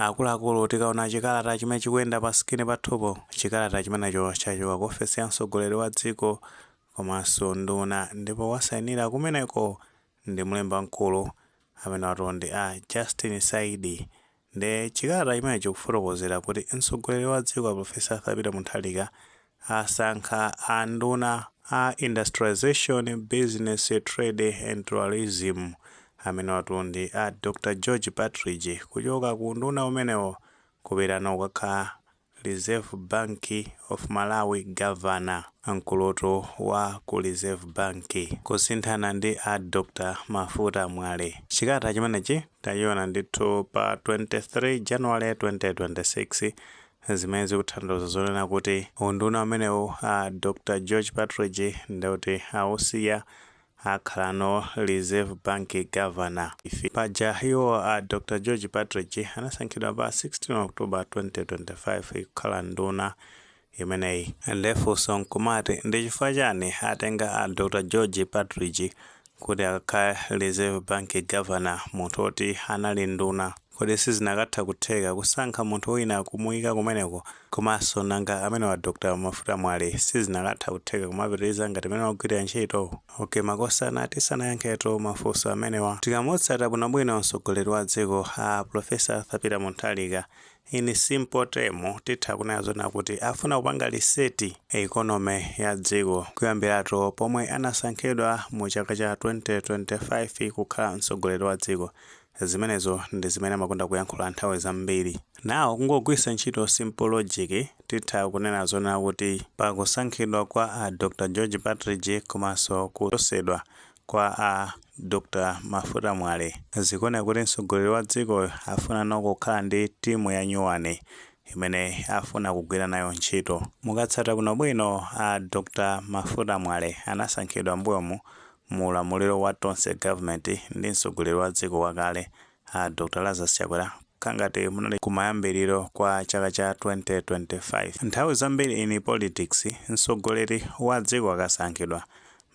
Akuluakulu tikaona chikalata chimene chikuyenda pa screen pathupo, chikalata chimenecho chachoka ku ofesi ya mtsogoleri wa dziko komanso nduna ndipo wasainira kumeneko ndi mlembi wamkulu, amenewatu ndi a Justin Saidi. Ndiye chikalata chimenechi chikufotokozera kuti mtsogoleri wa dziko a Prof. Arthur Peter Mutharika asankha a nduna a Industrialisation, Business, Trade and Tourism, amenewatu ndi a Dr George Partridge, kuchoka ku unduna umenewo kupita nawo kukakhala Reserve Bank of Malawi Governor, mkulutu wa ku Reserve Bank, kusinthana ndi a Dr Mafuta Mwale. Chikalata chimenechi tachiona ndithu pa 23 January 2026 zimene zikutanthauza zonena kuti unduna umenewu a Dr George Partridge ndeuti awusiya akhalano Reserve Bank Governor. Paja iwo a Dr George Partridge anasankhidwa pa 16 October 2025 kukhala nduna imeneyi. Nde funso nkumati ndichifukwa chani atenga a Dr George Partridge kuti akakhale reserve bank governor munthu oti anali nduna kodi sizinakatha kutheka kusankha munthu wina kumuyika kumeneko komanso nanga amenewa a Dr mafuta mwale sizinakatha kutheka kumapitiliza ngati mene wagwilira ntchito ok makosana tisanayankhetu mafunso amenewa tikamutsata bwinobwino mtsogoleri wa dziko a professor Arthur Peter Mutharika In simple term titha kunena zonena kuti afuna kupanga reset economy ya dziko kuyambiratu pomwe anasankhidwa mu chaka cha 2025 kukhala mtsogoleri wa dziko. Zimenezo ndi zimene amakonda kuyankhula nthawi zambiri. Now kungogwiritsa ntchito simple logic titha kunena zonena kuti pa kusankhidwa kwa a Dr George Partridge komanso kuchosedwa kwa a Dr Mafuta Mwale. Zikuoneka kuti mtsogoleri wa dziko afunano kukhala ndi timu ya nyuwani imene afuna kugwira nayo ntchito. Mukatsata bwino bwino a Dr Mafuta Mwale anasankhidwa mbuyomu mu ulamuliro wa Tonse Government ndi mtsogoleri wa dziko wakale A Dr Lazarus Chakwera kangati munali kumayambiliro kwa chaka cha 2025. Nthawi zambiri in politics, mtsogoleri wa dziko akasankhidwa,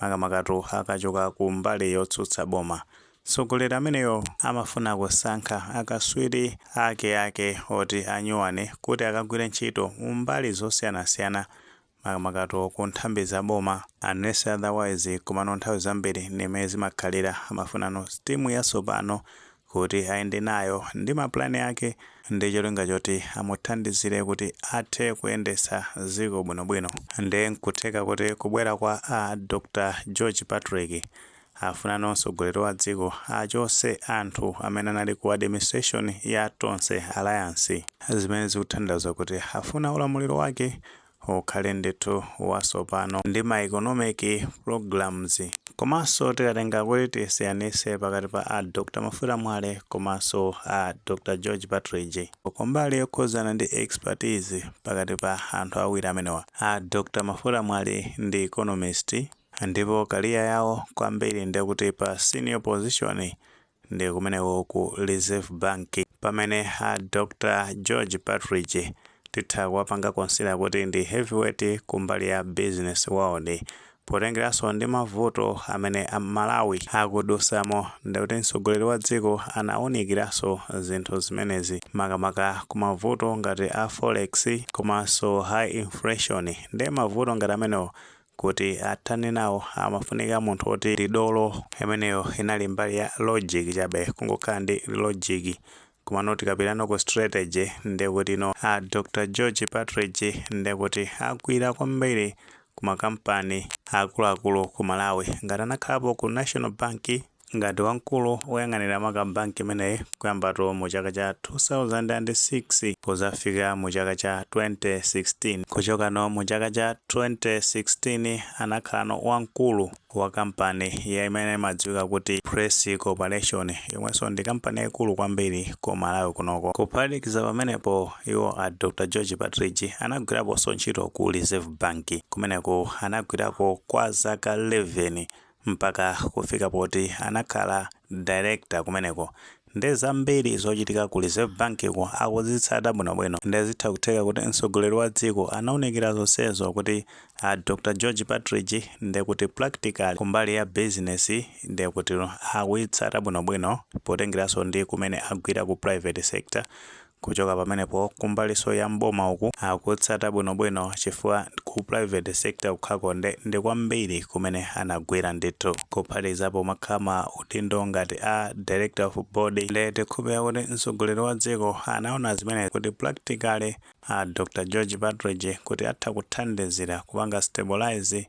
makamakatu akachoka ku mbali yotsutsa boma, mtsogoleri ameneyo amafuna kusankha akatswiri ake ake oti anyuwani kuti akagwire ntchito mu mbali zosiyanasiyana makamakatu ku nthambi za boma unless otherwise komano nthawi zambiri ndi mmene zimakhalira amafunano timu yatsopano kuti ayende nayo ndi ma plan ake ndi cholinga choti amuthandizire kuti athe kuyendetsa dziko bwinobwino nde nkutheka kuti kubwera kwa a Dr George Partridge Afunano mtsogoleri wa dziko achotse anthu amene anali ku administration ya Tonse alliance. Zimene zikutanthauza kuti afuna ulamuliro wake ukhale ndithu watsopano ndi ma economic programs. Komanso tikatenga kuti tisiyanise pakati pa a Dr Mafuta Mwale komanso a Dr George Partridge kumbali yokhuzana ndi expertise pakati pa anthu awiri amenewa a Dr Mafuta Mwale ndi economist, Ndipo career yawo kwambiri ndekuti pa senior position ndi kumeneko ku Reserve Bank pamene a Dr George Partridge titha kuwapanga consider kuti ndi heavyweight kumbali ya business world potengeranso ndi mavuto amene Malawi akudutsamo ndekuti mtsogoleri wa dziko anawunikiranso zinthu zimenezi makamaka ku mavuto ngati a forex komanso high inflation nde mavuto ngati amenewo kuti athane nawo amafunika munthu woti ndi dolo imeneyo inali mbali ya logic chabe kungokhala ndi logic komano tikapitano ku strategy ndekuti no a Dr George Partridge ndekuti agwira kwambiri kumakampani akuluakulu ku Malawi ngati anakhalapo ku National Bank Ngati wamkulu oyang'anira maka bank imeneyi kuyambatu mu chaka cha 2006 kuzafika mu chaka cha 2016 kuchokano mu chaka cha 2016 anakhalano wamkulu wa kampani ya imene imadziwika kuti Press Corporation yomwenso ndi kampani yaikulu kwambiri ku Malawi kunoko. Kuphatikiza pamenepo iwo a Dr George Partridge anagwiraponso ntchito ku Reserve Bank kumeneko anagwirako kwa zaka 11. mpaka kufika poti anakhala director kumeneko nde zambiri zochitika ku Reserve Bank ko akuzitsata bwino bwino nde zitha kutheka kuti mtsogoleri wa dziko anaunikira zonsezo kuti a Dr George Partridge nde kuti practically kumbali ya business nde kuti akuyitsata bwino bwino potengeranso ndi kumene agwira ku private sector Kuchoka pamenepo kumbalinso ya m'boma uku akutsata bwinobwino chifukwa ku private sector kukhako nde ndi kwambiri kumene anagwira ndithu kuphatikizapo kumakhala ma udindo ngati a Director of Board nde tikhulupira kuti mtsogoleri wa dziko anaona zimene kuti practically a Dr. George Partridge kuti atha kuthandizira kupanga stabilise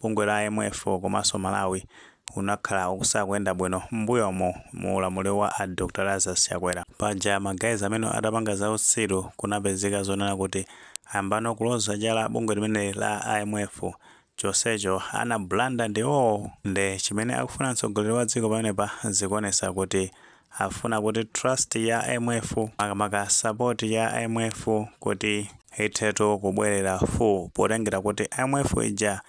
Bungwe la IMF komanso Malawi unakhala ukusakuyenda bwino m'mbuyomu mu ulamuliro wa a Dr Lazarus Chakwera. Paja ma guys amene atapanga za utsiru kunapezeka zonena kuti ayambano kuloza chala bungwe limeneli la IMF chonsecho ana blunder ndiwowo nde chimene akufuna mtsogoleri wa dziko pamenepa zikuonesa kuti afuna kuti trust ya IMF makamaka support ya IMF kuti ithetu kubwerera full potengera kuti IMF ija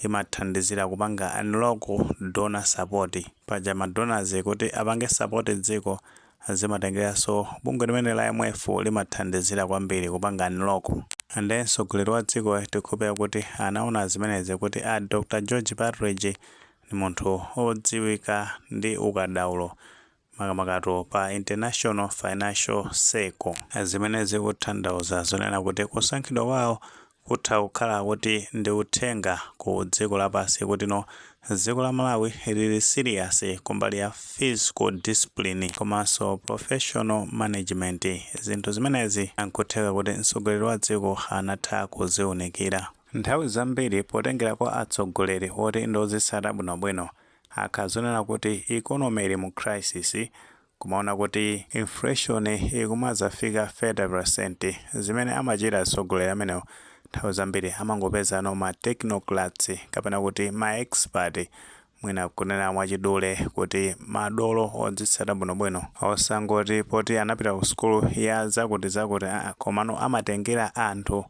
imathandizira kupanga unlock donor support paja ma donors kuti apange support dziko zimatengeranso bungwe limene la IMF limathandizira kwambiri kupanga unlock and mtsogoleri wa dziko tikhulupirira kuti anaona zimenezi kuti a Dr George Partridge ndi munthu wodziwika ndi ukadaulo makamakatu pa international financial circle. Zimene zikutanthauza zonena kuti kusankhidwa kwawo kutha kukhala kuti ndi uthenga ku dziko lapansi kuti no dziko la Malawi lili serious kumbali ya fiscal discipline komanso professional management. Zinthu zimenezi nkutheka kuti mtsogoleri wa dziko anatha kuziunikira. Nthawi zambiri, potengera kwa atsogoleri oti ndi odzitsata bwinobwino, akazaona kuti economy ili mu crisis, kumaona kuti inflation ikumazafika 30%, zimene amachita atsogoleri amenewo nthawi zambiri amangopezano ma technocrats kapena kuti ma expert Mwina kunena mwachidule kuti madolo odzitsata bwinobwino, osangoti poti anapita ku sukulu ya zakutizakuti aa komano amatengera anthu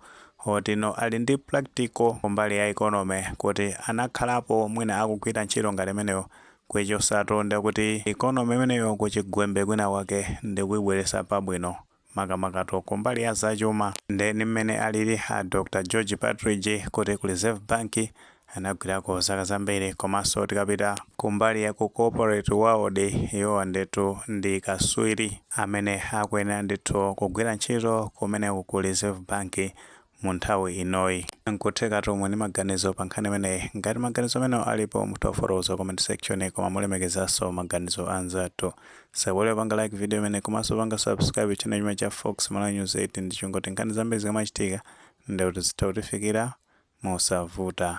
oti no ali ndi practical kumbali ya economy kuti anakhalapo mwina akugwira ntchito ngati imeneyo kuichotsatu ndekuti economy imeneyo kuchigwembe kwinakwake ndikuibweretsa pabwino. makamakatu kumbali ya zachuma nde ndi mmene alili a Dr George Partridge kuti ku Reserve Bank anagwirako zaka zambiri komanso tikapita kumbali ya ku corporate world iwowo ndetu ndi katswiri amene akuyenera ndithu kugwira ntchito kumeneku ku Reserve Bank mu nthawi inoyi. Nkuthekatu muli ndi maganizo pa nkhani imeneyi. Ngati maganizo amenewo alipo, mutha kufotokoza ku comment section koma mulemekezenso maganizo a anzathu. Osaiwala kupanga like video imeneyi komanso kupanga subscribe channel chimene cha Fox Malawi News 8 ndi cholinga choti nkhani zambiri zikamachitika ndekuti zitha kukufikirani mosavuta.